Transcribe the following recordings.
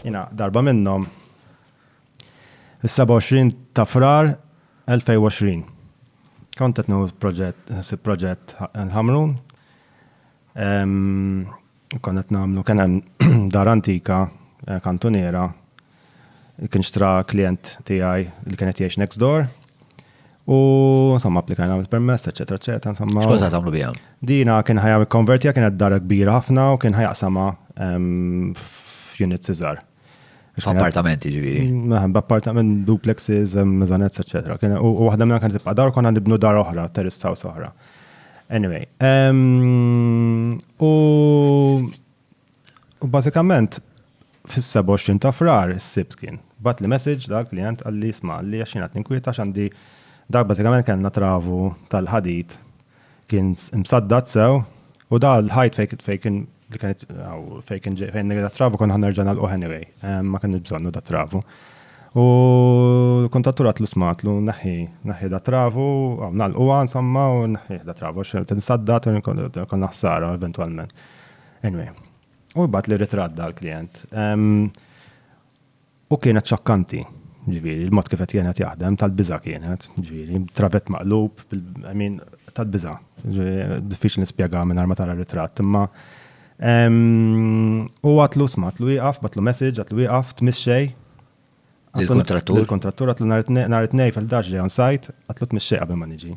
Jiena darba minnhom is-27 ta' Frar 2020. Kont qed nieħu proġett, ħsib proġett l-Ħamrun. Kont qed nagħmlu kien hemm dar antika eh, kantuniera kien xtra klient tiegħi li kien qed jgħix next door U insomma applikajna għal permess, eċetera, eċetera, insomma. Xkont ta' tagħmlu biha? Dina kien ħajja konvertija kienet dar kbira ħafna u kien ħajaqsama ehm, f'unit Cesar. F'appartamenti ġifieri. Naħem, b'appartament, duplexes, ehm, mezanets, eċetera. U waħda minna kienet tibqa' dar konna nibnu dar oħra, terrace house oħra. Anyway, ehm, u U bażikament fis-27 ta' Frar is-Sibt kien batli message dak klijent qal li sma' li għax jien qed ninkwieta x'għandi dak bażikament kellna travu tal-ħadid kien msaddad sew u da l-ħajt fejn fejn kien li kienet fejn kien fejn nirda travu konna ħanerġa' nagħlquh anyway ma kienx bżonnu da travu. U l-kuntattur għatlu smatlu naħi naħi da travu nagħlquha insomma u naħi da travu x'insaddad u konna ħsara eventwalment. Anyway, u jibgħat li ritratt dal-klient. U kienet xokkanti, ġviri, il-mod kif qed kienet jaħdem, tal-biża kienet, ġviri, travet maqlub, min tal-biża. Diffiċli nispjega minn arma tara ritratt, imma u għatlu smat lu jaqaf, batlu message, għatlu jaqaf, tmissej. Il-kontrattur. Il-kontrattur għatlu nar it-nej fil-daġ ġej on site, għatlu tmissej qabel ma niġi.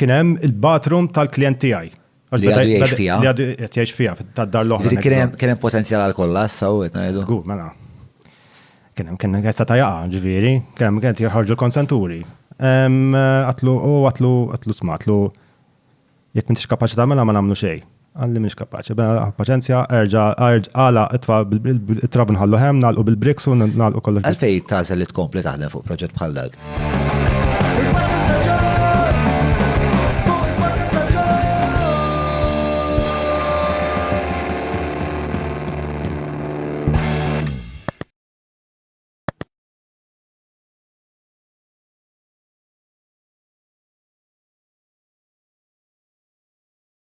Kien hemm il-bathroom tal-klijent tiegħi. Li għadu jgħix fiha. Li għadu qed jgħix fiha, tad-dar l-oħra. Kien hemm potenzjal għal kollha, saw qed ngħidu. Żgur, mela. Kien hemm kien għessa ta' jaqa, ġifieri, kien hemm kien jirħarġu konsenturi. Għatlu, u għatlu, għatlu sma, għatlu, jekk m'intix kapaċi tagħmilha ma nagħmlu xejn. Għalli mhix kapaċi. Bela paċenzja, erġa' għala itfa' it-trab nħallu hemm, nagħlqu bil-briks u nagħlqu kollox. Għalfej tażel li tkompli taħdem fuq proġett bħal dak?